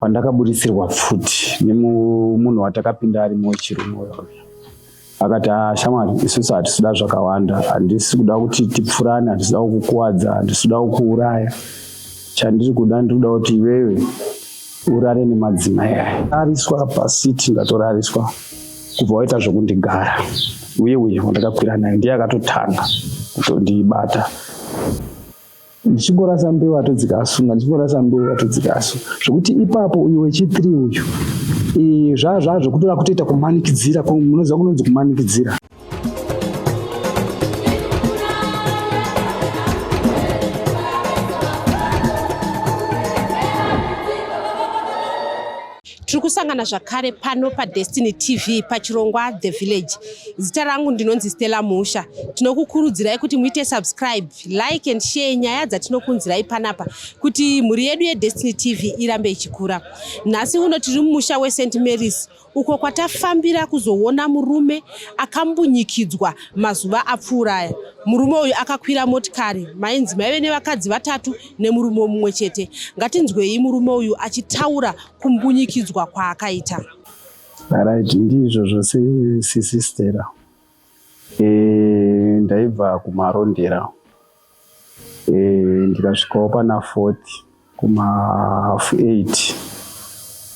pandakaburitsirwa pfuti nemunhu watakapinda ari muchirungu akati ah, shamwari isusu hatisida zvakawanda handisi kuda kuti tipfurane handisida kukuwadza handisida kukuuraya chandiri kuda ndiri kuda kuti iwewe urare nemadzimai aya ariswa pasiti ndatorariswa kubva waita zvokundigara uye uye wandakakwira naye ndiye akatotanga kutondibata ndichingorasa mbeu atodzika asunga ndichingorasa mbeu atodzika asu zvekuti ipapo uyu wechithree uyu zvaa zvaa zvekutoda kutoita kumanikidzira munoziva kunonzi kumanikidzira Tiri kusangana zvakare pano paDestiny TV pachirongwa The Village. Zita rangu ndinonzi Stella Musha. Tinokukurudzirai kuti muite subscribe, like and share nyaya dzatinokunzirai panapa kuti mhuri yedu yeDestiny TV irambe ichikura. Nhasi uno tiri mumusha weSt Mary's uko kwatafambira kuzoona murume akambunyikidzwa mazuva apfuura aya. Murume uyu akakwira motikari mainzi maive nevakadzi vatatu nemurume mumwe chete. Ngatinzwei murume uyu achitaura kumbunyikidzwa kwaakaita. Right, ndizvo zvose sisi Stella. Eh, ndaibva kumarondera eh, ndikasvikawo pana 40 kuma half 8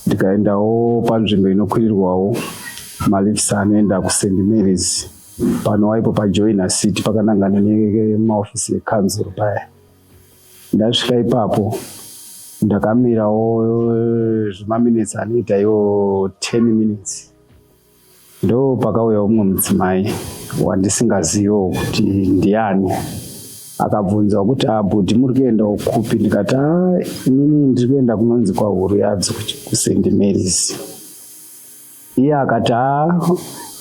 ndikaendawo panzvimbo inokwirirwawo malifs anoenda kuSt Mary's panowaipo pajoina city pakanangana nemaofisi ekanzuru paya ndasvika ipapo ndakamirawo zvimaminitsi anoita iwo 10 minutes ndo pakauya umwe mudzimai wandisingaziviwo kuti ndiani akabvunza kuti abhudhi ah, muri kuenda kupi ndikati ah, inini ndiri kuenda kunonzi kwahuru yadzo kusendi marys iye akati haa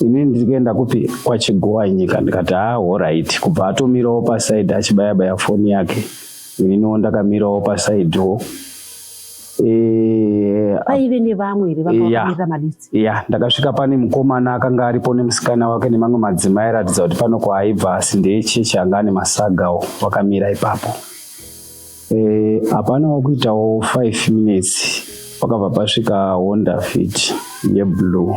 ini ndiri kuenda kupi kwachigowa nyika ndikati haa horaiti kubva atomirawo pasaidi achibaya baya foni yake ininiwo ndakamirawo pasaidiwo Eh, paive nevamwe here vakamirira maditsi ya ndakasvika pane mukomana akanga aripo nemusikana wake nemamwe madzimai airatidza kuti pano kwaaibva asi ndeechechi anga ane masagawo wakamira ipapo Eh, hapana e, wakuitawo 5 minutes pakabva pasvika honda fit yeblue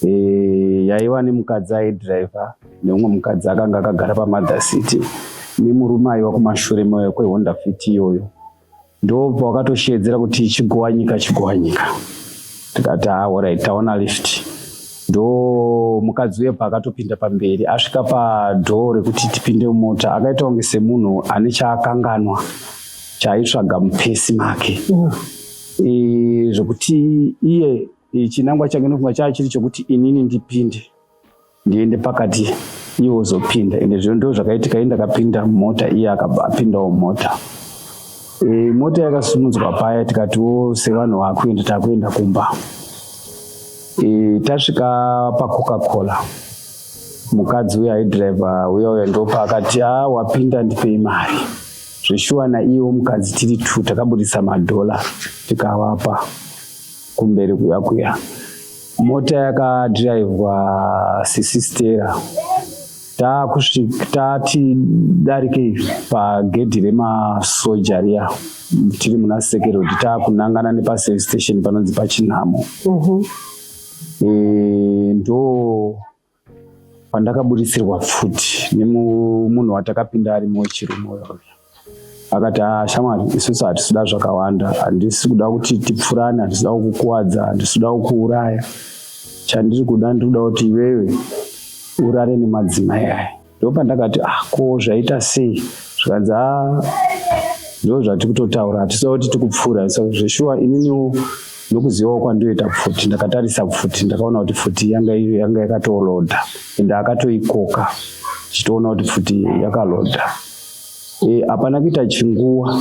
e, yaiva nemukadzi aidriver neumwe mukadzi akanga akagara pamother city nemurume aiva kumashure kwehonda fit iyoyo ndobva wakatosheedzera kuti chigowanyika chigowanyika tikati ah, alright taona lift ndo mukadzi uye paakatopinda pamberi asvika padhoo rekuti tipinde mumota akaita kunge semunhu ane chaakanganwa chaaitsvaga mupesi make mm. e, zvekuti iye chinangwa change nofunga chaa chiri chokuti inini ndipinde ndiende pakati iye wozopinda ende zvino ndo zvakaitika iye ndakapinda mumota iye akapindawo mumota e, mota yakasumudzwa paya tikatiwo sevanhu vakuenda takuenda kumba e, tasvika pacoca cola mukadzi uya aidriver uya uya ndopa akati a ah, wapinda ndipei mari zveshuwa naiyewo mukadzi tiri two takabudisa madhola tikavapa kumberi kuya kuya mota yakadhiraivhwa sisistera taakusvika tati darike pagedhi remasoja riya tiri muna sekerodi taakunangana nepaservice station panonzi pachinhamo mhm. eh, ndo pandakaburitsirwa pfuti nemunhu watakapinda arimo wechirume uyo akati ah, shamwari isusu hatisida zvakawanda handisi kuda kuti tipfurane handisida kukukuvadza handisida kukuuraya chandiri kuda ndiri kuda kuti iwewe urare nemadzimai aya ndopandakati ah ko zvaita sei zvikanzi ah ndo zvatiri kutotaura hatisa kuti tikupfuura so zveshuwa ininiwo nokuzivawo kwandoita pfuti ndakatarisa pfuti ndakaona kuti pfuti yanga yanga yakatoloda ende akatoikoka chitoona kuti pfuti yakaloda e, hapana e, kuita chinguva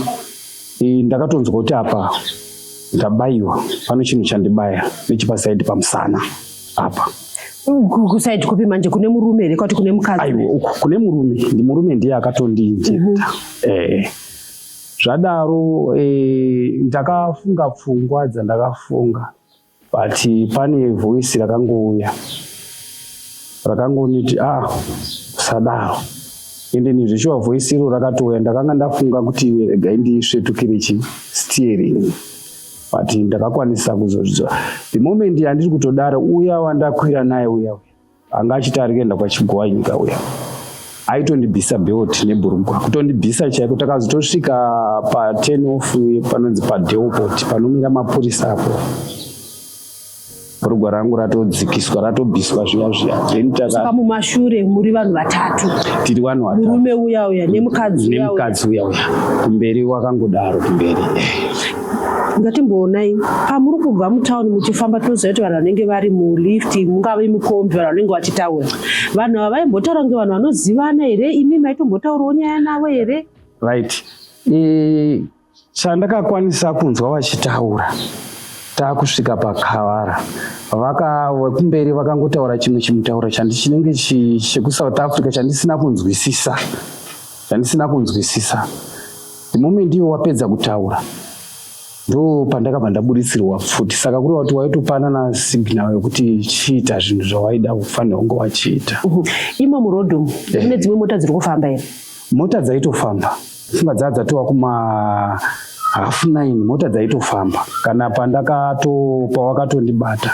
e, ndakatonzwa kuti apa ndabayiwa pano chinhu chandibaya nechipasaidi pamusana apa kusaidi kupi manje kune murume here kwati kune mukadzi aiwa uku kune murume ndi murume ndiye akatondinjeta mm -hmm. eh zvadaro eh, ndakafunga pfungwa dzandakafunga but pane voice rakangouya rakangoniti ah sadaro ende nezveshuwa voice iro rakatouya ndakanga ndafunga kuti regai ndisvetukire chi steering but ndakakwanisa kuzozvidzwa the moment yandiri kutodaro uya wandakwira naye uya uya anga achiti ari kuenda kwachigwai nyika uya aitondibvisa belt nebhurugwa kutondibvisa chaiko takazotosvika paten off panonzi padeopot panomira mapurisa apo Rugwa rangu ratodzikiswa ratobviswa zviya zviya then taka mumashure muri vanhu vatatu tiri vanhu vatatu murume uya uya nemukadzi uya nemukadzi uya uya kumberi wakangodaro kumberi ngatimboonai pamuri kubva mutauni muchifamba tinoziva kuti vanhu vanenge vari mulift mungave mukombi vanhu vanenge vachitaura vanhu ava vaimbotaura kunge vanhu vanozivana here imi maitombotaurawo nyaya navo here right Chandakakwanisa kunzwa vachitaura takusvika pakavara vaka vekumberi vakangotaura chimwe chimutauro chandichinenge chekusouth africa chandisina kunzwisisa chandisina kunzwisisa the moment ivo wapedza kutaura ndo pandakabva ndaburitsirwa futi saka kureva kuti waitopanana signal yekuti chiita zvinhu zvawaida kufanira kunge wachiita imo murodhom mune dzimwe mota dziri kufamba here mota dzaitofamba Simba dzaa dzatova kuma half nine mota dzaitofamba kana pandakato pawakatondibata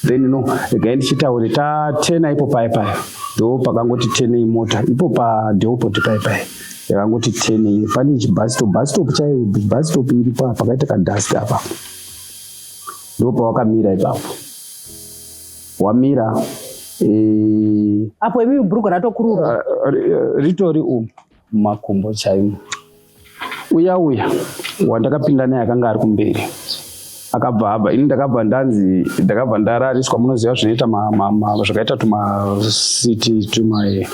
then no regai ndichitaure ta ten ipo paye paye ndo pakangoti ten imota ipo padheopoti paye paye yakangoti ten pane chibhasitop bhasitop chaiyo bhasitop iripo pakaita kadhasti apa ndo pawakamira ipapo wamira eh, apo imi bhurugwa ratokurura eh, eh, ritori umu mumakumbo chaimo. Uya uya wandakapinda naye akanga ari kumberi akabva abva ini ndakabva ndanzi ndakabva ndarariswa munoziva zvinoita zvakaita tumasiti tumae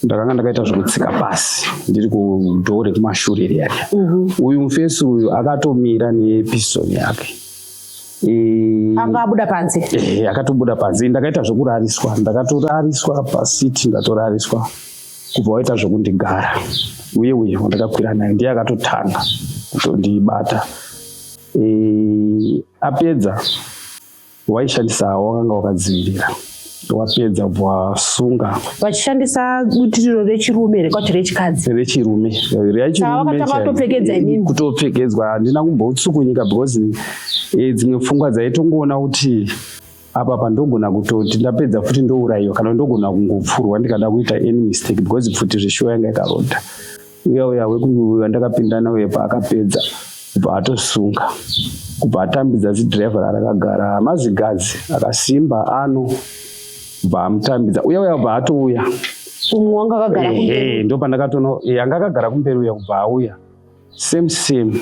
ndakanga ndakaita zvekutsika pasi ndiri kudhoo rekumashure riya riya mhm. uyu mufesi uyu akatomira nepisoni yake anga abuda panze eh, akatobuda panze ndakaita zvekurariswa ndakatorariswa pasiti ndatorariswa kubva waita zvekundigara uye uye wandakakwira naye ndiye akatotanga kutondibata e, apedza waishandisa wakanga wakadzivirira wapedza bwasunga vachishandisa butiriro rechirume rekwati rechikadzi rechirume rechirumekutopfekedzwa handina kumbotsukunyika because eh, dzimwe pfungwa dzaitongoona kuti apa pandogona kutoti ndapedza futi ndourayiwa kana ndogona kungopfurwa ndikada kuita any mistake because pfuti zveshuwa yanga yakaronda uya uya wekuuya ndakapindana uye paakapedza kubva atosunga kubva atambidza zidriver rakagara mazigadzi akasimba ano kubva amutambidza uya uya kubva atouya ndo pandakatono anga akagara kumberi uya kubva auya same same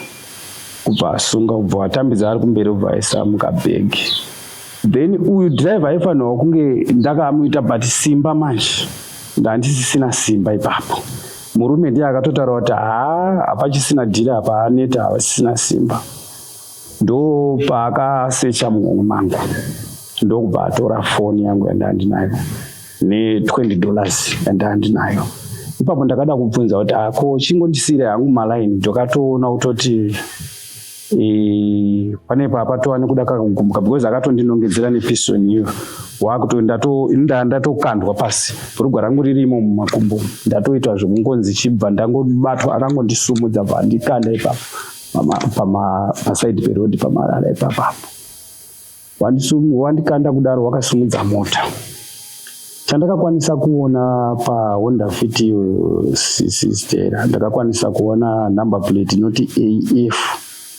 kubva asunga kubva atambidza ari kumberi kubva aisa mukabhegi then uyu driver aifanirwa kunge ndakamuita but simba manje ndandisisina simba ipapo murume ndiye akatotaura kuti haa hapachisina dhiri apa aneta havasisina simba ndopaakasecha muhomwe mangu ndokubva atora foni yangu yandava ndinayo ne20 dollars yandava ndinayo ipapo ndakada kubvunza kuti ako ah, chingondisire hangu malaini ndokatoona kutoti e, pane papatova nekuda kakugumuka because akatondinongedzera nepisoni iyo wakuto indaa ndatokandwa pasi bhurugwa rangu ririmo mumakumbo ndatoita zvekungonzi chibva ndangobatwa akangondisumudza bva ndikanda ipapo pasaidi perodhi pamarara ipapapo wandikanda kudaro wakasimudza mota chandakakwanisa kuona pahonda fit sistera ndakakwanisa kuona number plate inoti af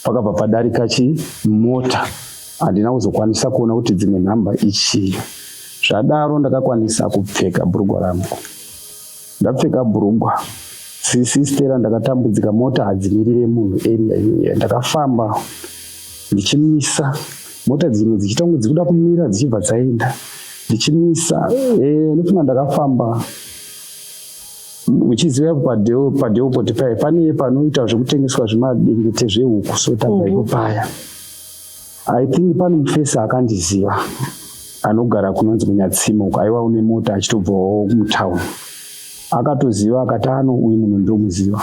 pakabva padarika chi mota handina kuzokwanisa kuona kuti dzimwe nhamba ichii zvadaro ndakakwanisa kupfeka bhurugwa rangu ndapfeka bhurugwa sisi stera ndakatambudzika mota hadzimirire munhu area iyoyo ndakafamba ndichimisa mota dzimwe dzichiita kunge dzikuda kumira dzichibva dzaenda ndichimisa eh, ndofunga ndakafamba uchiziva padeo padeo poti paye pane panoita zvekutengeswa zvemadengete zvehuku so tabva ipo paya mm -hmm. I think pane mufesi akandiziva anogara kunonzi kunyatsima uko aiwa une mota achitobvawo mutown akatoziva akati ano uyu munhu ndomuziva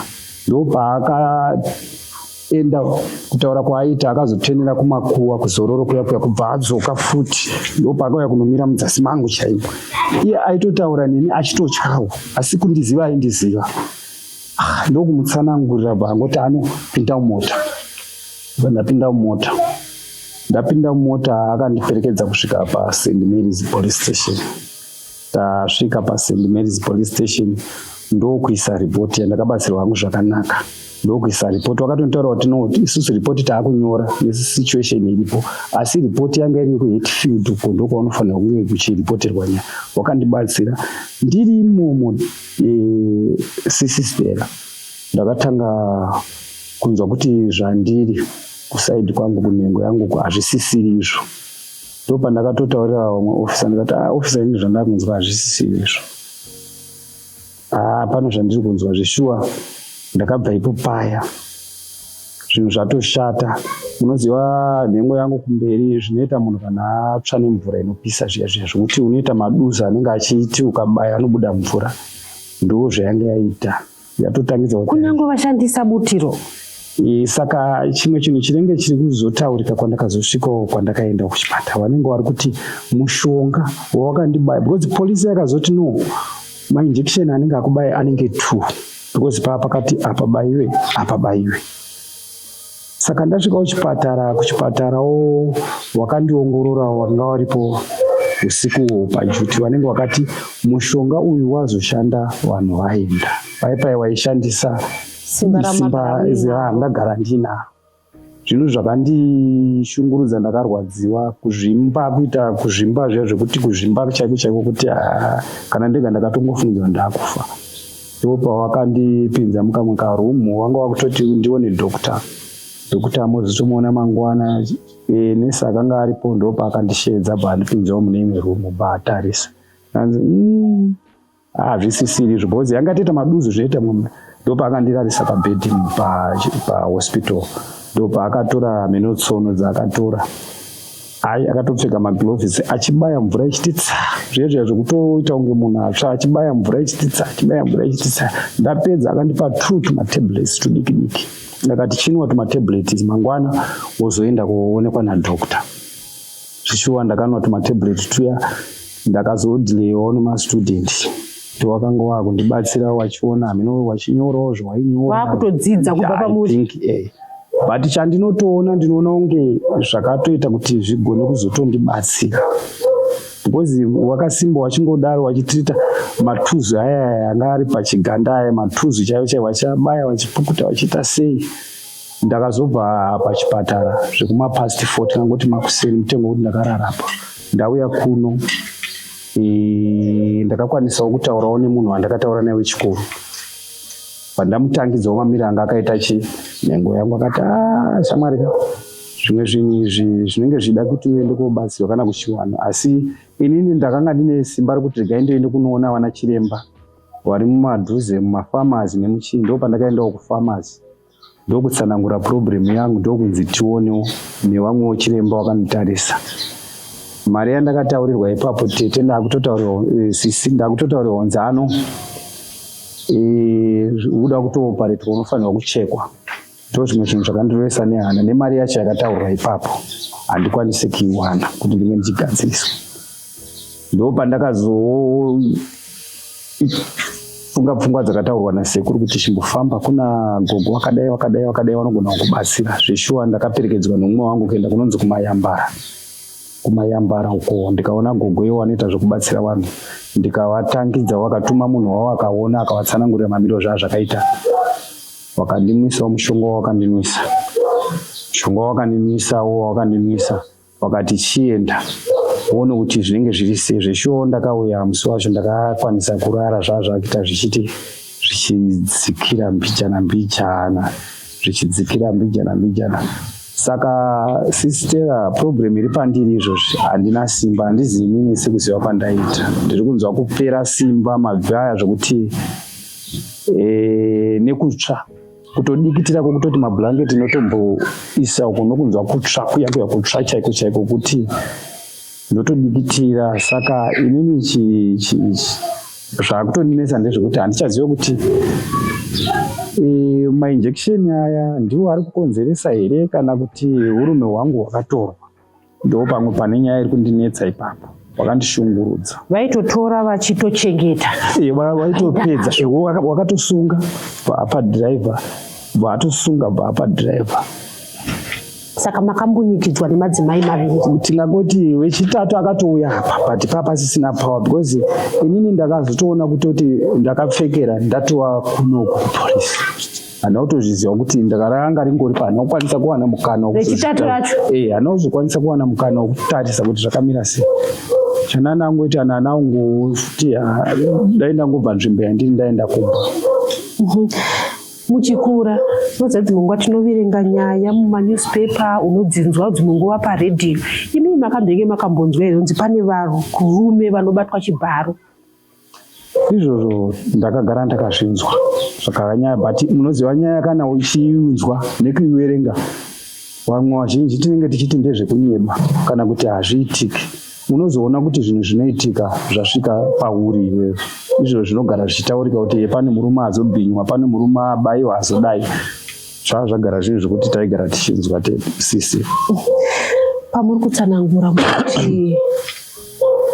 ndopaakaenda kutaura kwaaita akazotenera kumakuwa kuzororo kuya kuya kubva adzoka futi ndopaakauya kunomira mudzasi mangu chaipo iye aitotaura neni achitotyawo asi kundiziva aindiziva ah, ndokumutsanangurira bangoti anopinda mumota ndapinda mumota ndapinda mumota akandiperekedza kusvika paSt Mary's police station tasvika paSt Mary's police station ndokuisa ripoti yandakabatsirwa hangu zvakanaka ndokuisa ripoti wakatonitaura kuti no isusu ripoti taakunyora nesituation iripo asi ripoti yanga iri yekuhetfield uko ndokwaunofanira kunge kuchiripoterwa nyaya wakandibatsira ndiri imomo e, eh, sisistera ndakatanga kunzwa kuti zvandiri kusaidi kwangu kunhengo yangu ku hazvisisiri izvo ndo pandakatotaurira vamwe ofisa ndikati ah, ofisa ini zvandakunzwa hazvisisiri izvo haa ah, pano zvandiri kunzwa zveshuwa ndakabva ipo paya zvinhu zvatoshata unoziva nhengo yangu kumberi zvinoita munhu kana atsva nemvura inopisa zviya zviya zvokuti unoita maduza anenge achiiti ukabaya anobuda mvura ndoo zvayanga yaita yatotangidza kunyange vashandisa butiro e, saka chimwe chinhu chinenge chiri kuzotaurika kwandakazosvikawo kwandakaenda kuchipatara vanenge vari kuti mushonga wawakandibaya because polisi yakazoti no mainjection anenge akubaya anenge two because paa pakati apabaiwe apabaiwe Saka ndasvika kuchipatara, kuchipatarawo wakandiongorora wanga waripo usiku pajuti vanenge wakati mushonga uyu wazoshanda vanhu vaenda paipai waishandisa simba randagara ndinaro zvinhu zvakandishungurudza ndakarwadziwa kuzvimba kuita kuzvimba zviya zvekuti kuzvimba chaiko chaiko kuti ah, kana ndega ndakatongofungidzwa ndakufa ndipo pavakandipinza mukamwe karoom wanga wakutoti ndione doctor doctor mozotomuona mangwana e, nesi akanga aripo ndo paakandisheedza bva andipinzawo mune imwe room bva atarisa anzi mm, hazvisisiri izvo bhozi yanga toita maduzu zvoita mumwe ndo paakandirarisa pabhedhi pahospital ndo paakatora meno tsono dzaakatora Hai akatopfeka magloves achibaya mvura ichititsa zviye zviya zvekutoita kunge munhu atsva achibaya mvura ichititsa achibaya mvura ichititsa ndapedza akandipa two tumatablets tudiki diki ndakati chinwa tumatablets mangwana wozoenda kuonekwa nadoctor zvishuwa ndakanwa tumatablets tuya ndakazodhileyiwawo nemastudent kuti wakanga wakundibatsira wachiona hameno wachinyorawo zvawainyora wakutodzidza kubva pamuri eh. but chandinotoona ndinoona kunge zvakatoita kuti zvigone kuzotondibatsira because wakasimba wachingodaro wachitita matuzu aya anga ari pachiganda aya matuzu chaivo chaivo vachabaya vachipukuta vachiita sei ndakazobva pachipatara zvekuma past 4 tikangoti makuseni mutengo kuti ndakararapa ndauya kuno e, ndakakwanisawo kutaurawo nemunhu wandakataura naye wechikoro pandamutangidzawo mamiri anga akaita chi nhengo yangu akati a ah, shamwari ka zvimwe zvinhu izvi zvinenge zvichida kuti uende kobatsirwa kana kuchiwana asi inini ndakanga ndine simba rekuti regai ndoende kunoona vana chiremba vari mumadhuze mumafamazi nemuchii ndo pandakaendawo kufamazi ndokutsanangura problem yangu ndokunzi tionewo nevamwewo chiremba wakanditarisa mari yandakataurirwa ipapo tete ndakutotaurirwa eh, sisi ndakutotaurirwa nzano eh, uda kutooparetwa unofanirwa kuchekwa ndo zvimwe zvinhu zvakandirwesa nehana nemari yacho yakataurwa ipapo handikwanise kuiwana kuti ndinge ndichigadziriswa ndopandakazofunga pfungwa dzakataurwa nasekuru kuti chimbofamba kuna gogo wakadai wakadai wakadai vanogona kukubatsira zveshuwa ndakaperekedzwa nomumwe wangu kuenda kunonzi kumayambara kumayambara uko ndikaona gogo iwo anoita zvekubatsira vanhu ndikavatangidza wakatuma munhu wavo akaona akavatsanangurira mamiro zvaa zvakaita wakandinwisawo mushonga wawakandinwisa mushonga wawakandinwisawo wawakandinwisa wakati chienda uone kuti zvinenge zviri sei zveshuwo ndakauya musi wacho ndakakwanisa kurara zvazvakuita zvichiti zvichidzikira mbijana mbijana zvichidzikira mbijana mbijana saka sistera problem iri pandiri izvozvi handina simba handizi inini sekuziva kwandaita ndiri kunzwa kupera simba mabvi aya zvokuti e, eh, nekutsva kutodikitira kwokutoti mablanketi inotomboisa uko nokunzwa kutsva kuya kuya kutsva chaiko chaiko kuti ndotodikitira saka inini zvakutondinetsa ndezvekuti handichazive kuti eh, mainjection aya ndiwo ari kukonzeresa here kana kuti urume hwangu hwakatorwa Ndo pamwe pane nyaya iri kundinetsa ipapo wakandishungurudza vaitotora vachitochengeta e, vaitopedza e, wakatosunga bvaapa driver bvaatosunga bvaapa driver saka makambunyikidzwa nemadzimai maviri tingangoti wechitatu akatouya apa but paa pasisina power because inini ndakazotoona kutoti ndakapfekera ndatova kunoko kupolisi handina kutozviziva kuti ndakaranga ringori pa handina kukwanisa kuwana mukana wechitatu racho eh handina kuzokwanisa kuwana mukana wekutarisa kuti zvakamira sei chanana angoita nana angu futi ah, dai ndangobva nzvimbo yandiri ndaenda kumba mhm. muchikura unoziva dzimwe nguva tinoverenga nyaya mumanewspaper unodzinzwa dzimwe nguva paredhiyo imii makambenge makambonzwa here kunzi pane varume vanobatwa chibharo izvozvo ndakagara ndakazvinzwa zvakava nyaya but munoziva nyaya kana uchiunzwa nekuiverenga vamwe vazhinji tinenge tichiti ndezvekunyeba kana kuti hazviitiki unozoona kuti zvinhu zvinoitika zvasvika pauri iwewe izvo zvinogara zvichitaurika kuti pane murume azobhinywa pane murume abayiwa azodai zvaa zvagara zvinhu zvekuti taigara tichinzwa te sisi pamuri kutsanangura mukuti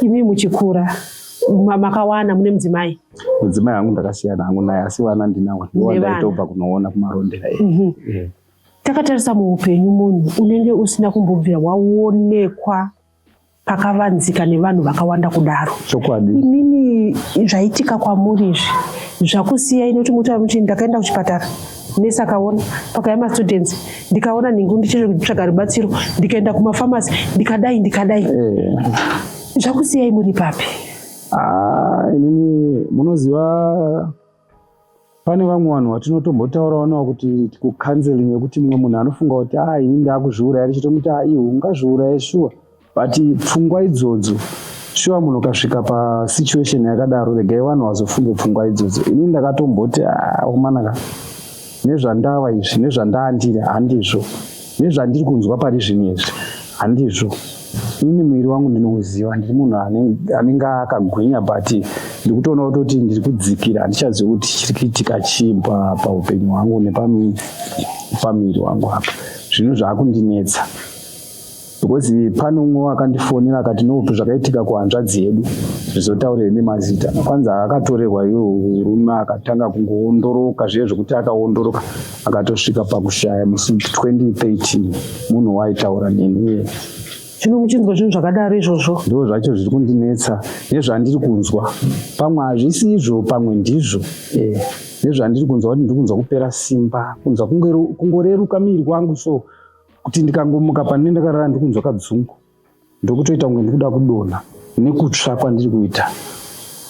imi muchikura makawana mune mudzimai mudzimai hangu ndakasiyana hangu naye asi vana ndinawo ndiwandaitobva kunoona kumarondera mhm. eh. takatarisa muupenyu munhu unenge usina kumbobvira waonekwa pakavanzika nevanhu vakawanda kudaro chokwadi imimi zvaitika kwamuri izvi zvakusiya inoti mutaura muti ndakaenda kuchipatara nesi akaona pakaya mastudents ndikaona nhingu ndichitsvaga rubatsiro ndikaenda kumafamasi ndikadai ndikadai eh. Zvakusiyai muri papi? Ah, inini munoziva pane vamwe vanhu vatinotombotaurawo navo kuti kucounseling yekuti mumwe munhu anofunga kuti ah ini ndakuzviuraya richitomuti ah iwe ungazviuraye shuwa but pfungwa idzodzo shuwa munhu ukasvika pasituation yakadaro regai vanhu vazofunge pfungwa idzodzo inini ndakatomboti ah umanaka nezvandava izvi nezvandaandiri handizvo nezvandiri kunzwa pari zvinhu izvi handizvo ini mwiri wangu ndinouziva ndiri munhu anenge akagwinya but ndiri kutoona kutoti ndiri kudzikira handichazivi kuti chiri kuitika chii paupenyu hwangu nepamiri wangu apa zvinhu zvaakundinetsa because pane umwe wakandifonera akati nokuti zvakaitika kuhanzvadzi yedu zvizotaurire nemazita kwanzi akatorerwa iyo rume akatanga kungoondoroka zviye zvekuti akaondoroka akatosvika pakushaya musi 2013 munhu waitaura neniye zvino muchinzwa zvinhu zvakadaro izvozvo ndo zvacho zviri kundinetsa nezvandiri kunzwa pamwe hazvisi izvo pamwe ndizvo eh, nezvandiri kunzwa kuti ndiri kunzwa kupera simba kunzwa kungoreruka miri kwangu so kuti ndikangomuka pane ndakarara ndikunzwa kadzungu ndokutoita kunge ndikuda kudonha nekutsva kwandiri kuita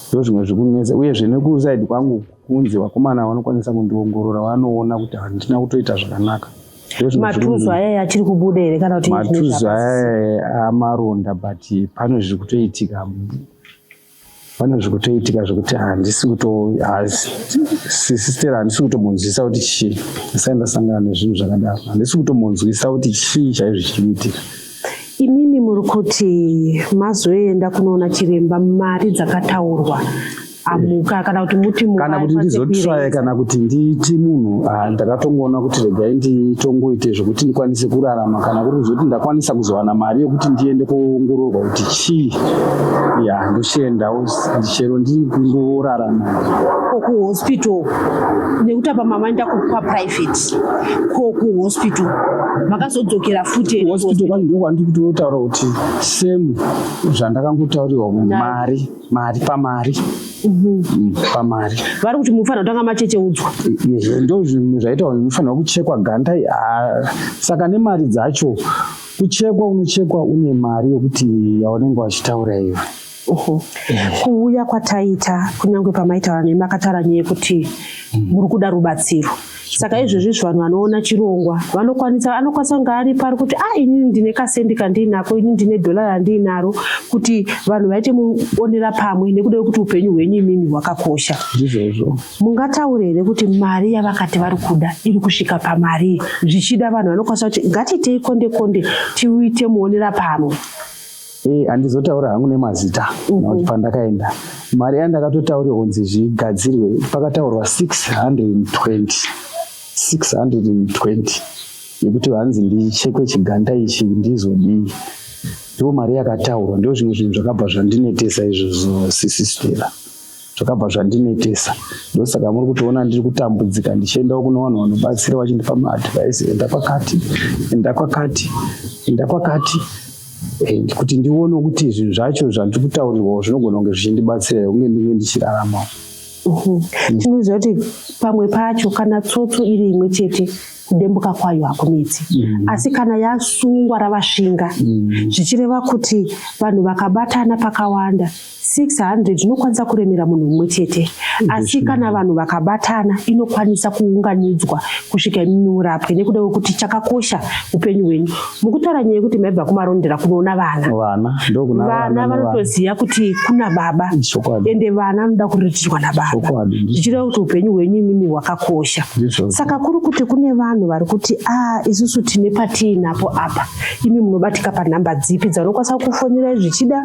ndo zvimwe zvikunetsa uyezve nekusaidi kwangu kunzi vakomana vanokwanisa kundiongorora vanoona kuti handina kutoita zvakanaka matuzu ayaya achiri kubuda here kana kuti matuzu ayaya amaronda but pano zviri kutoitika pane zvikutoitika zvekuti handisi kutoasisitera handisi kutomunzwisa kuti chii asai ndasangana nezvinhu zvakadaro handisi kutomunzwisa kuti chii chaizvo chichiitika imimi muri kuti mazoenda kunoona chiremba mari dzakataurwa amuka kana kuti muti kana kuti ndizotsvaye kana kuti ndiiti munhu ah, ndakatongoona kuti regai nditongoite zvekuti ndikwanise kurarama kana kuri zvekuti ndakwanisa kuzowana mari yekuti ndiende koongororwa kuti chii ya ndochiendawo ndichero ndiri kungorara ko kuhospital nekuti apa mamaenda kwaprivate ko kuhospital makazodzokera futi hospital kwani ndiko kwandiri kutotaura kuti same zvandakangotaurirwa mari mari pamari Mm-hmm. pamari vari kuti munofanira kutanga machecheudzwa ndo zvinhu zvaita kuti munofanira kuchekwa ganda saka nemari dzacho Kuchekwa unochekwa une mari yokuti yaunenge wachitaura iwe. Uhu. Kuuya kwataita kunyange pamaitaura nemi akataura nyaya yekuti muri kuda rubatsiro. Saka izvezvi izvi vanhu vanoona chirongwa vanokwanisa anokwanisa kunge ari pari kuti ah inini ndine kasendi kandiinako ini ndine dholari randiinaro kuti vanhu vaite muonera pamwe nekuda kwekuti upenyu hwenyu imimi hwakakosha. Ndizvozvo. Mungataure here kuti mari yavakati vari kuda iri kusvika pamarii? Zvichida vanhu vanokwanisa kuti ngatiitei konde konde tiuite muonera pamwe. Ee, eh, andizotaura hangu nemazita mhm. nokuti pandakaenda mari yandakatotaura kunzi zvigadzirwe pakataurwa 620 620 yekuti hanzi ndichekwe chiganda ichi ndizodii ndiwo mari yakataurwa ndio zvimwe zvinhu zvakabva zvandinetesa izvozvo sisistera zvakabva zvandinetesa ndosaka muri kutoona ndiri kutambudzika ndichiendawo kune vanhu vanobatsira vachindipa maadvise enda kwakati enda kwakati enda kwakati eh, kuti ndione kuti zvinhu zvacho zvandiri kutaurirwawo zvinogona kunge zvichindibatsira kunge ndinge ndichiraramawo tinoziva kuti pamwe pacho kana tsotso iri imwe chete kudembuka kwayo hakunetsi mm. asi kana yasungwa ravashinga mm. zvichireva kuti vanhu vakabatana pakawanda 600 inokwanisa kuremera munhu mumwe chete asi kana vanhu vakabatana inokwanisa kuunganidzwa kusvika imimi urapwe nekuda kwekuti chakakosha upenyu hwenyu mukutaura nyaya yekuti maibva kumarondera kunoona vana vana vanotoziva kuti kuna baba ende vana vanoda kuriritwa nababa zvichireva kuti upenyu hwenyu imimi hwakakosha saka kuri kuti kune vanhu vari kuti a ah, isusu tine patiinapo apa imi munobatika panhamba dzipi dzaunokwanisa kufonera zvichida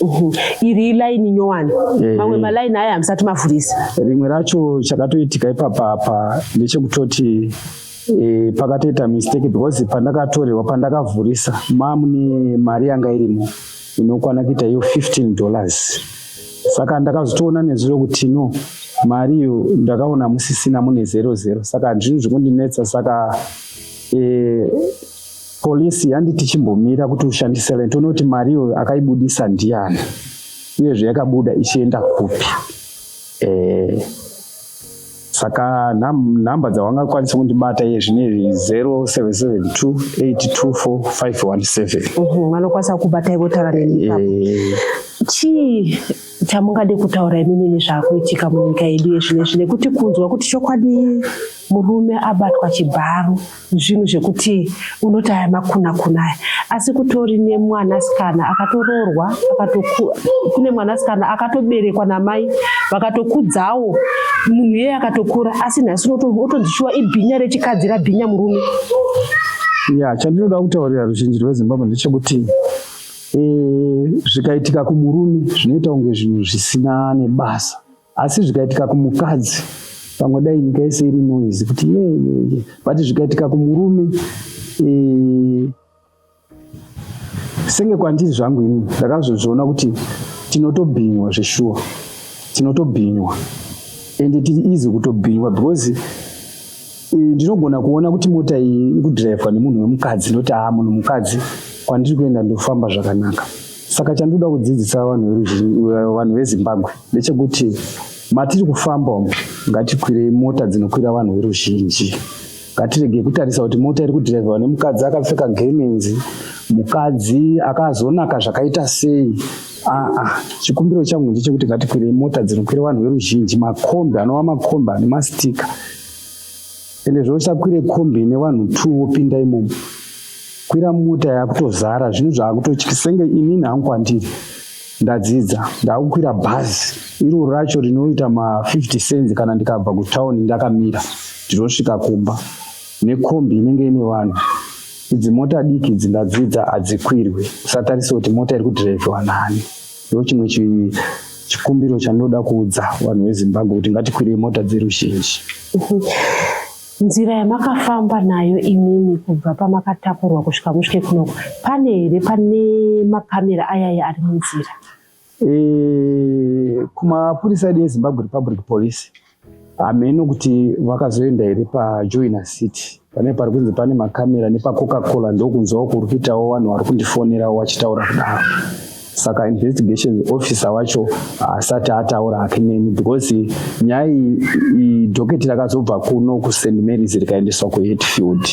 Mhm. iri ilaini nyowani eh. mamwe malaini aya hamusati mavhurisa rimwe racho chakatoitika ipapa apa ndechekutoti eh, pakatoita mistake because pandakatorerwa pandakavhurisa mamune mari yanga irimo inokwana kuita iyo 15 dollars saka ndakazotoona nezuro kuti no mari iyo ndakaona musisina mune zero zero saka zvinhu zvekundinetsa saka eh, Police yanditi chimbomira kuti ushandise rent unoti mari iyoyo akaibudisa ndiani uyezve yakabuda ichienda kupi eh, saka nhamba dzawanga kwanisa kundibata iye zvine 0772824517 vanokwanisa kubata ivo taura neni eh. chii chamungade kutaura imimi nezvakuitika munyika yedu yezvinezvi nekuti kunzwa kuti chokwadi murume abatwa chibharo zvinhu zvekuti unoti aya makuna kuna aya asi kutori nemwanasikana akatoroorwa kune mwanasikana akatoberekwa namai vakatokudzawo munhu iyeye akatokura asi nhasi unotonzi shuwa ibhinya rechikadzi rabhinya murume ya chandinoda kutaurira ruzhinji rwezimbabwe ndechekuti eh, zvikaitika kumurume zvinoita kunge zvinhu zvisina nebasa asi zvikaitika kumukadzi pamwe dai nyika yese iri noise kuti yeyeye but zvikaitika kumurume e, senge kwandiri zvangu ini ndakazozviona kuti tinotobhinywa zveshuwa tinotobhinywa ende tiri easy kutobhinywa because ndinogona kuona kuti mota iyi ikudhiraivhwa nemunhu wemukadzi ndoti aa munhu mukadzi kwandiri kuenda ndofamba zvakanaka saka chandinoda kudzidzisa vanhu vezimbabwe ndechekuti matiri kufamba umu ngatikwirei mota dzinokwira vanhu veruzhinji ngatirege kutarisa kuti mota iri kudhiraivhwa nemukadzi akapfeka gemenzi mukadzi akazonaka zvakaita sei aa chikumbiro changu ndechekuti ngatikwirei mota dzinokwira vanhu veruzhinji makombi anova makombi ane mastika ende zvausakwire kombi ine vanhu two wopinda imomo kwira mota yakutozara zvinhu zvakutotyisa senge inini hangu kwandiri ndadzidza ndakukwira bhazi iroro racho rinoita ma50 cents kana ndikabva kutown ndakamira ndinosvika kumba nekombi inenge ine vanhu idzi mota diki idzi ndadzidza hadzikwirwe usatarisa kuti mota iri kudhiraivhiwa nani Ndochimwe chikumbiro chanoda kuudza vanhu vezimbabwe kuti ngatikwirei mota dzeruzhinji nzira yamakafamba nayo imimi kubva pamakatakurwa kusvika musvike kunoko pane here pane makamera ayaya ari munzira e, kumapurisa edu ezimbabwe republic police hameno kuti vakazoenda here pajoina city pane pari kunzi pane makamera nepacoca cola ndokunzwawo kuri kuitawo vanhu vari kundifonerawo vachitaura kudaro saka investigation officer wacho haasati ataura hake neni because nyaya iyi doketi rakazobva kuno kust marys rikaendeswa kuhetfield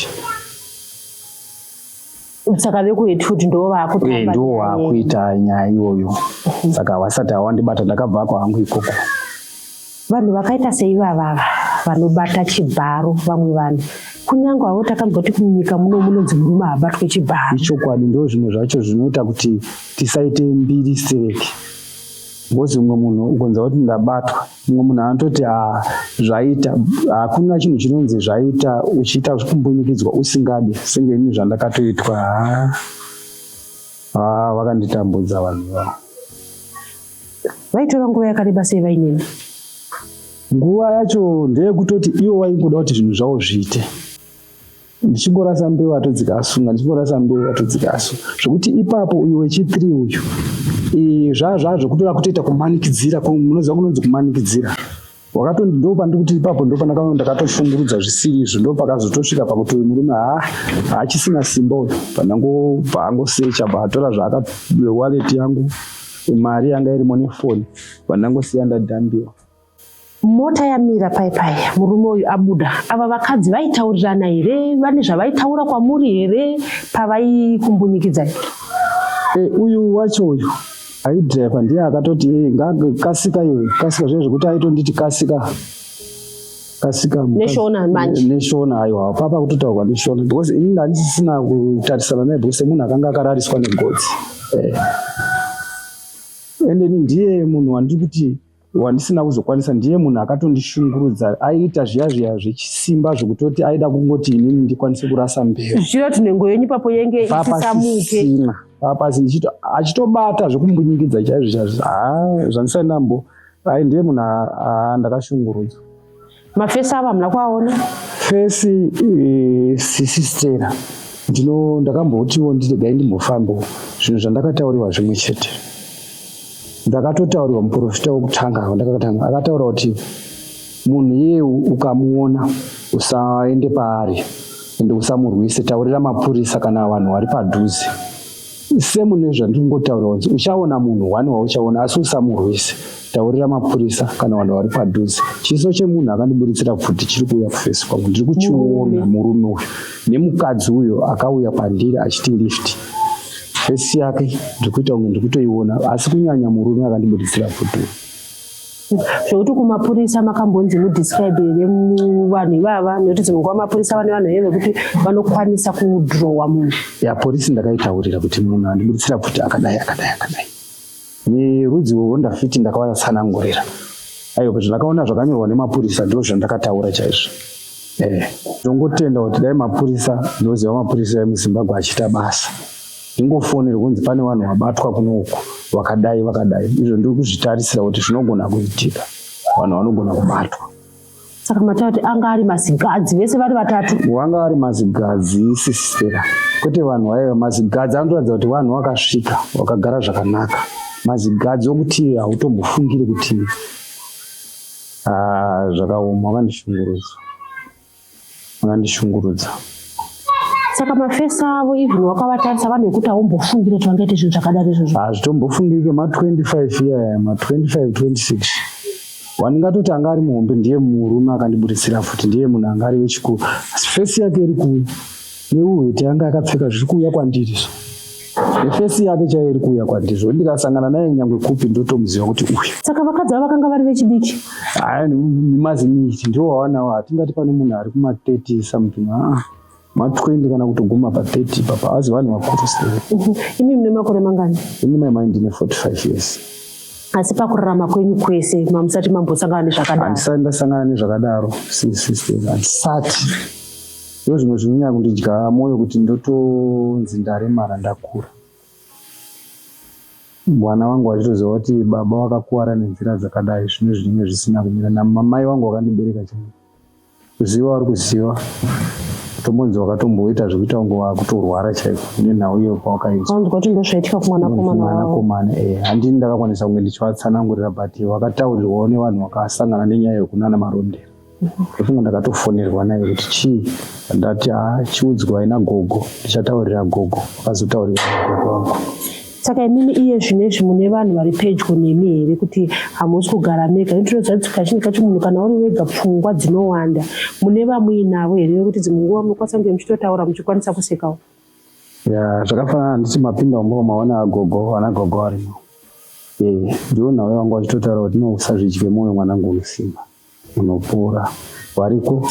saka vekuhead food ndivo vaakutamba eh, ndivo waakuita nyaya iyoyo mhm. saka vasati hawandibata ndakabva ko hangu ikoko vanhu vakaita seivavava vanobata chibharo vamwe vanhu kunyange avo takamboti kunyika muno munonzi murume haabatwe chibharo ichokwadi ndo zvimwe zvacho zvinoita kuti tisaite mbiri stereki ngozi umwe munhu ukonza kuti ndabatwa mumwe munhu anototi ah, zvaita hakuna ah, chinhu chinonzi zvaita uchiita kumbunyikidzwa usingadi senge ini zvandakatoitwa ah, ah, vakanditambudza vanhu vavo vaitora nguva yakareba sei vainini nguva yacho ndeyekutoti iwo waingoda kuti zvinhu zvavo zviite ndichingorasa mbeu atodzika asunga ndichingorasa mbeu atodzika asu zvekuti ipapo uyu wechithree uyu zvaa zvaa zvekutoda kutoita kumanikidzira munoziva kunonzi kumanikidzira wakato ndo pandiri kuti ipapo ndo pandakaona ndakatoshungurudza zvisiri izvo ndo pakazotosvika pakuti uyu murume ha haachisina simba uyu pandango paangosecha paatora zvaakawaleti yangu mari yanga irimo nefoni pandangosiya ndadhambiwa Mota yamira pai pai, murume uyu abuda. Ava vakadzi vaitaurirana here? Vane zvavaitaura kwamuri here pavaikumbunyikidza? E, eh, uyu wacho uyu aidriver ndiye akatoti eh, kasika iwe kasika zviya zvekuti aitonditi kasika kasika neshona manje neshona aiwa papa kutotaurwa neshona because ini ndandisisina kutarisana naye because munhu akanga akarariswa negodzi eh. ende ni ndiye munhu wandiri kuti wandisina kuzokwanisa ndiye munhu akatondishungurudza aiita zviya zviya zvechisimba zvekutoti aida kungoti inini ndikwanise kurasa mberi zvichida kuti nhengo yenyu papo yenge isisamuke papasi ndichito achitobata zvekumbunyikidza chaizvo chaizvo haa zvandisainambo ai ndiye munhu haa ndakashungurudzwa mafesi avo hamuna kuaona fesi eh, sisistera ndino ndakambotiwo ndiregai ndimbofambawo zvinhu zvandakatauriwa zvimwe chete ndakatotaurirwa muprofita wokutanga wandakakatanga akataura kuti munhu iye ukamuona usaende paari ende usamurwise taurira mapurisa kana vanhu vari padhuze semu nezvandingotaura kunzi uchaona munhu wani wauchaona asi usamurwise taurira mapurisa kana vanhu vari padhuze chiso chemunhu akandiburitsira pfuti chiri kuuya kufesi kwangu ndiri kuchiona murume uyu nemukadzi uyo akauya pandiri achiti lifti fesi yake ndiri kuita kunge ndiri kutoiona asi kunyanya murume akandiburitsira pfuti uyu zvekuti kumapurisa makambonzi mudescribe here vanhu ivava nekuti dzimwe nguva mapurisa vane vanhu here vekuti vanokwanisa kudrowa munhu ya purisi ndakaitaurira kuti munhu andiburitsira kuti akadai akadai akadai nerudzi wowo ndafiti ndakavayatsanangurira aiwa kuti ndakaona zvakanyorwa nemapurisa ndo zvandakataura chaizvo eh, ndongotenda kuti dai mapurisa ndoziva mapurisa emuzimbabwe achiita basa Ndingofonera kunzi pane vanhu vabatwa kuno uku vakadai vakadai, izvo ndiri kuzvitarisira kuti zvinogona kuitika, vanhu vanogona kubatwa. Saka mataura kuti anga ari mazigadzi vese vari vatatu? Wanga ari mazigadzi sisitera, kwete vanhu vaiva mazigadzi. Anotoratidza kuti vanhu vakasvika vakagara zvakanaka. Mazigadzi okuti hautombofungiri kuti ah, zvakaoma, vakandishungurudza. Vakandishungurudza. Saka mafesi avo even wakavatarisa vanhu vekuti haumbofungire kuti vangaite zvinhu zvakadaro izvozvo. Hazvitombofungike ah, ma25 iyaya ma25 26 wandingatoti anga ari muhombe ndiye murume akandiburitsira futi ndiye munhu anga ari wechikuru asi fesi yake iri kuuya neuhwete anga akapfeka zviri kuuya kwandiri so efesi yake chaiyo iri kuuya kwandizvo ndikasangana naye nyangwe kupi ndotomuziva kuti uyu saka vakadzi ava vakanga vari vechidiki aya nemaziniti ndiwo wawanawo hatingati pane munhu ari kuma30 something aa ma20 kana kutoguma pa30 ipapa hazi vanhu vakuru se mhm. imi mune makore mangani ini mai mai ndine 45 years asi pakurarama kwenyu kwese mamusati mambosangana nezvakadaro handisati ndasangana nezvakadaro sisiste handisati Ndozvimwe zvinonyanya kundidya moyo kuti ndotonzi ndaremara ndakura. Mwana wangu wachitoziva kuti baba wakakuvara nenzira dzakadai zvine zvinenge zvisina kumira namamai wangu wakandibereka chaivo. Ziva wari kuziva tombonzi wakatomboita zvekuita kunge wakutorwara chaiko nenhau iyo pawakaizwa. Anzwa kuti ndozvaitika kumwanakomana wavo. Mwanakomana eh handini ndakakwanisa kunge ndichivatsanangurira but wakataurirwawo nevanhu vakasangana nenyaya yokunana marondera. ndofunga ndakatofonerwa naye kuti chii ndati haa ah, chiudzwai nagogo ndichataurira gogo akazotaurira gogo wangu saka imimi iye zvine izvi mune vanhu vari pedyo nemi here kuti hamusi kugara mega notinoziva kazhinji kacho munhu kana uri wega pfungwa dzinowanda mune vamuinavo here vekuti dzimwe nguva munokwanisa kunge muchitotaura muchikwanisa kusekawo ya zvakafanana handisi mapinda ombo maona agogo ana gogo arimo ndiwo nhau yangu achitotaura kuti nousazvidye mwoyo mwanangu unosimba unopora variko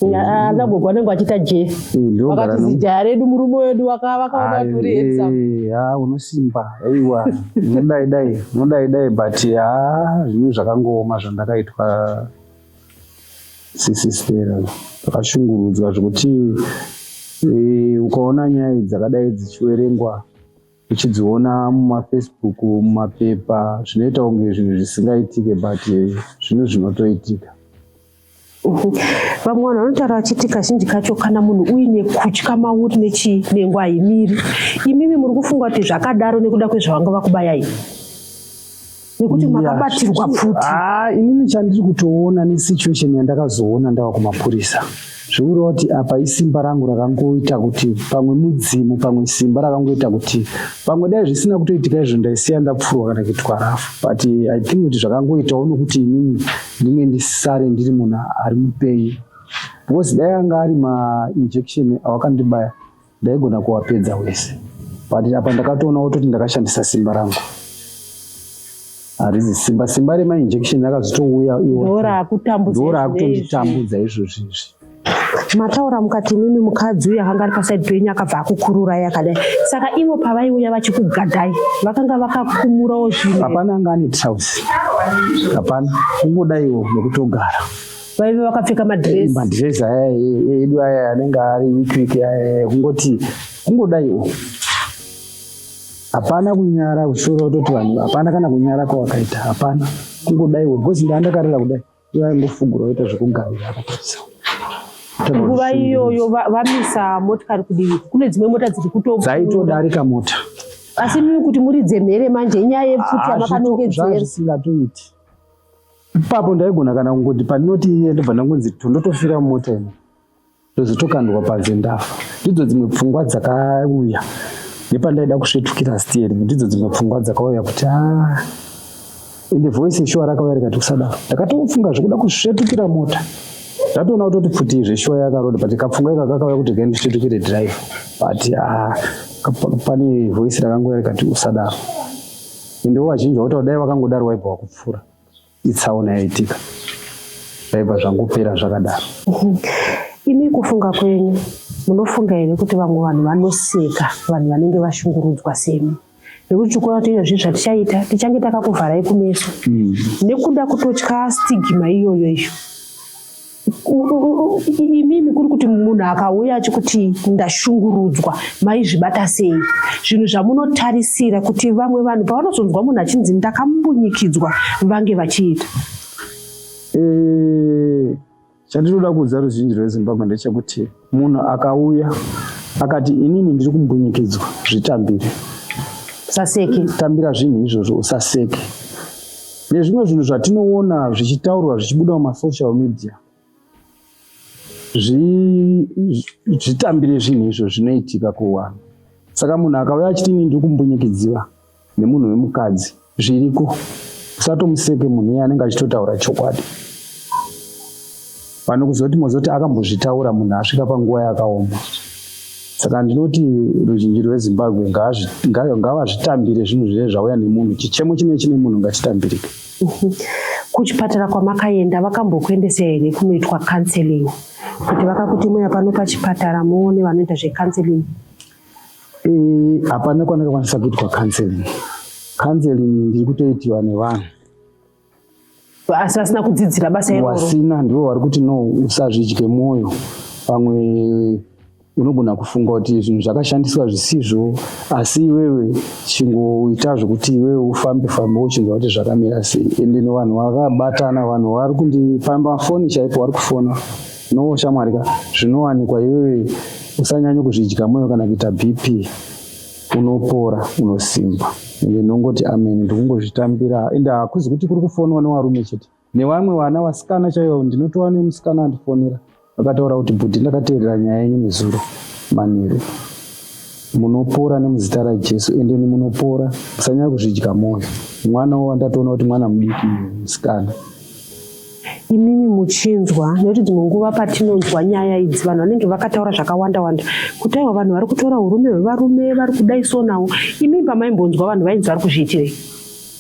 ana gogo vanenge vachiita jee vakati zijaya redu murume wedu vakavakaona turi handsome ha unosimba aiwa unodai dai unodai dai but ha zvinhu zvakangooma zvandakaitwa sisi stera zvakashungurudzwa zvekuti ukaona nyaya dzakadai dzichiverengwa uchidziona mumafacebook mumapepa zvinoita kunge zvinhu zvisingaitike but zvinhu zvinotoitika vamwe vanhu vanotaura vachiti kazhinji kacho kana munhu uine kutya mauri nechinengo haimiri imimi muri kufunga kuti zvakadaro nekuda kwezvavanga vakubayai nekuti makabatirwa pfuti ah, inini chandiri kutoona nesituation yandakazoona ndava kumapurisa zvekureva kuti apa isimba rangu rakangoita kuti pamwe mudzimu pamwe simba rakangoita kuti pamwe dai zvisina kutoitika izvo ndaisiya ndapfurwa kana kuitwa rafu but i think kuti zvakangoitawo nokuti inini ndinge ndisare ndiri munhu ari mupenyu because dai anga ari mainjection awakandibaya Ndaigona kuwapedza wese but apa ndakatoona wototi ndakashandisa simba rangu harizi simba simba remainjection akazotouya iworaakutonditambudza izvozvi izvi mataura mukati mimi mukadzi uya akanga ari pasaidi penyu akabva akukururai akadai saka ivo pavaiuya vachikugadhai vakanga vakakumurawo zvinhu hapana anga ane trous hapana kungodaiwo nekutogara vaive vakapfeka madress madress aya edu aya anenge ari week week aya kungoti kungodaiwo hapana kunyara kusoro utoti vanhu hapana kana kunyara kwawakaita hapana kungodaiwo because ndaandakarira kudai ivaingofugura oita zvekugarira akatotsa nguva iyoyo vamisa motikari kudivi kune dzimwe mota dziri kuto dzaitodarika mota asi mii kuti muridze mhere manje inyaya yepfuti yamakanongedzera zvisingatoiti Ipapo ndaigona kana kungoti pandinoti iye ndobva ndangonzi to ndotofira mumota ino ndozotokandwa panze ndafa. Ndidzo dzimwe pfungwa dzakauya nepandaida kusvetukira steering ndidzo dzimwe pfungwa dzakauya kuti a ah, ende voice yeshuwa rakauya rikati kusadaro ndakatofunga zvekuda kusvetukira mota ndatoona kutoti pfuti zveshuwa yakaroda but kapfungwa ika kakauya kuti gai ndisvetukire drive but a ah, pane voice rakangouya rikati usadaro ende wovachinja woti dai wakangodaro waibva wakupfuura itsaona yaitika zvaibva zvangopera zvakadaro imi kufunga kwenyu munofunga here kuti vamwe vanhu vanoseka vanhu vanenge vashungurudzwa semi nekuti tikuona kuti iyozvi zvatichaita tichange takakuvharai kumeso mm. nekuda kutotya stigma iyoyo iyo imimi kuri kuti munhu akauya achikuti ndashungurudzwa maizvibata sei zvinhu zvamunotarisira kuti vamwe vanhu pavanozonzwa munhu achinzi ndakambunyikidzwa vange vachiita eh, chandinoda kuudza ruzhinji rwezimbabwe ndechekuti munhu akauya akati inini ndiri kumbunyikidzwa zvitambire usaseke tambira zvinhu izvozvo usaseke nezvimwe zvinhu zvatinoona zvichitaurwa zvichibuda mumasocial media zvitambire zvinhu izvo zvinoitika kuwanhu saka munhu akauya achiti ini ndiri kumbunyikidziwa nemunhu wemukadzi zviriko usatomuseke munhu iye anenge achitotaura chokwadi pane kuzoti mozoti akambozvitaura munhu asvika panguva yakaoma saka ndinoti ruzhinji rwezimbabwe ngavazvitambire zvinhu zviye zvauya nemunhu chichemo chine chine munhu ngachitambirike mhm. kuchipatara kwamakaenda vakambokuendesa here kunoitwa counseling kuti vakakuti muya pano pachipatara muone vanoita zvecounseling Eh, hapana kwandakakwanisa kuitwa counseling. Counseling ndiri kutoitiwa nevanhu asi vasina kudzidzira basa iroro. Wasina ndivo vari kuti no, usazvidye mwoyo pamwe unogona kufunga kuti zvinhu zvakashandiswa zvisizvo asi iwewe chingoita zvekuti iwewe ufambe fambe wochinzwa kuti zvakamira sei ende no vanhu vakabatana vanhu vari kundipamba foni chaipo vari kufona No shamwari ka zvinowanikwa iwewe usanyanye kuzvidya moyo kana kuita BP unopora unosimba ende ndongoti amen ndikungozvitambira ende hakuzi kuti kuri kufonwa newarume chete nevamwe vana vasikana chaivo ndinotova nemusikana andifonera vakataura kuti bhudhi ndakateerera nyaya yenyu nezuro manheru munopora nemuzita rajesu endeni munopora musanyaya kuzvidya mwoyo mwana wo wandatoona kuti mwana mudiki musikana imimi muchinzwa nekuti dzimwe nguva patinonzwa nyaya idzi vanhu vanenge vakataura zvakawanda wanda kuti aiwa vanhu vari kutora urume hwevarume vari kudai so nawo imimi pamaimbonzwa vanhu vainzi vari kuzviitirei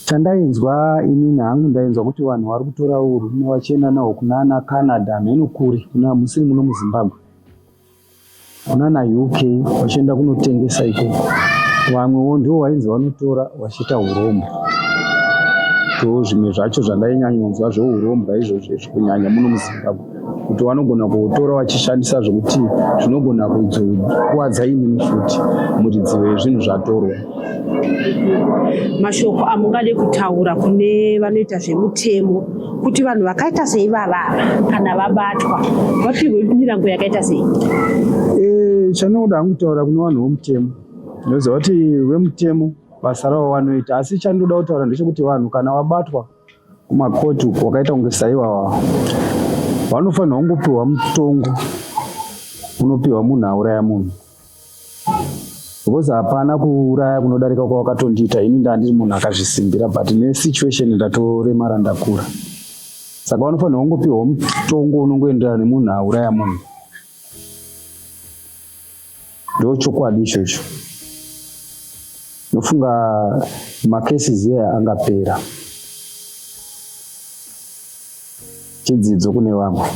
chandainzwa inini hangu ndainzwa kuti vanhu vari kutora urume vachenda nawo kuna ana canada mheno kuri kuna musiri muno muzimbabwe kunana uk vachienda kunotengesa ikoko vamwewo ndivo vainzi vanotora vachiita urombo so zvimwe zvacho zvandainyanyonzwa zveurombwa izvozvo izvi kunyanya muno muzimbabwe kuti vanogona kutora vachishandisa zvekuti zvinogona kuzokuvadza inini futi muridzivo yezvinhu zvatorwa mashoko amungade kutaura kune vanoita zvemutemo kuti vanhu vakaita sei vavava kana vabatwa vapihwe mirango yakaita sei eh, chandinoda hangu kutaura kune vanhu vomutemo ndinoziva kuti vemutemo basa ravo vanoita asi chandinoda kutaura ndechekuti vanhu kana vabatwa kumakoti uko wakaita kunge saiwawa vanofanirwa kungopiwa mutongo unopiwa munhu auraya munhu because hapana kuuraya kunodarika kwawakatondiita ini ndandiri munhu akazvisimbira but nesituation ndatoremara ndakura saka vanofanirwa kungopiwa mutongo unongoenderana nemunhu auraya munhu ndo chokwadi ichocho nofunga macases aya angapera Chidzidzo kune vamwe.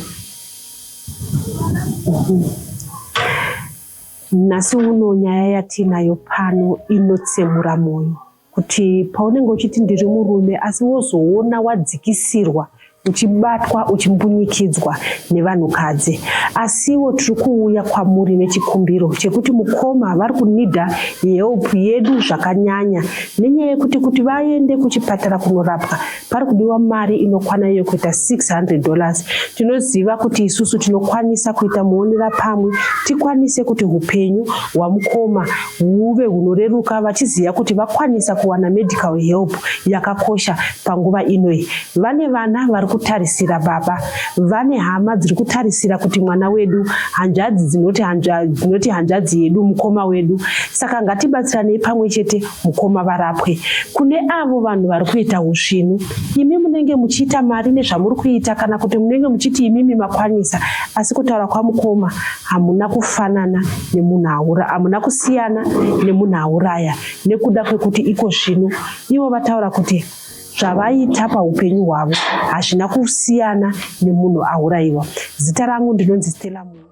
Nhasi uno nyaya yatiinayo pano inotsemura mwoyo kuti paunenge uchiti ndiri murume asi wozoona wadzikisirwa uchibatwa uchimbunyikidzwa nevanhukadzi asiwo tiri kuuya kwamuri nechikumbiro chekuti mukoma vari kunida help yedu zvakanyanya nenyaya yekuti kuti vaende kuchipatara kunorapwa pari kudiwa mari inokwana iyo kuita 600 dollars tinoziva kuti isusu tinokwanisa kuita muonera pamwe tikwanise kuti upenyu hwamukoma huve hunoreruka vachiziva kuti vakwanisa kuwana medical help yakakosha panguva inoi vane vana vari kutarisira baba vane hama dziri kutarisira kuti mwana wedu hanzvadzi dzinoti hanzvadzi yedu mukoma wedu saka ngatibatsiranei pamwe chete Mukoma varapwe kune avo vanhu vari kuita usvinu. Imi munenge muchiita mari nezvamuri kuita kana kuti munenge muchiti imimi makwanisa asi kutaura kwamukoma hamuna kufanana nemunhu aura hamuna kusiyana nemunhu auraya nekuda kwekuti iko zvino ivo vataura kuti zvavaita paupenyu hwavo hazvina kusiyana nemunhu auraiwa. Zita rangu ndinonzi Stella Munhu.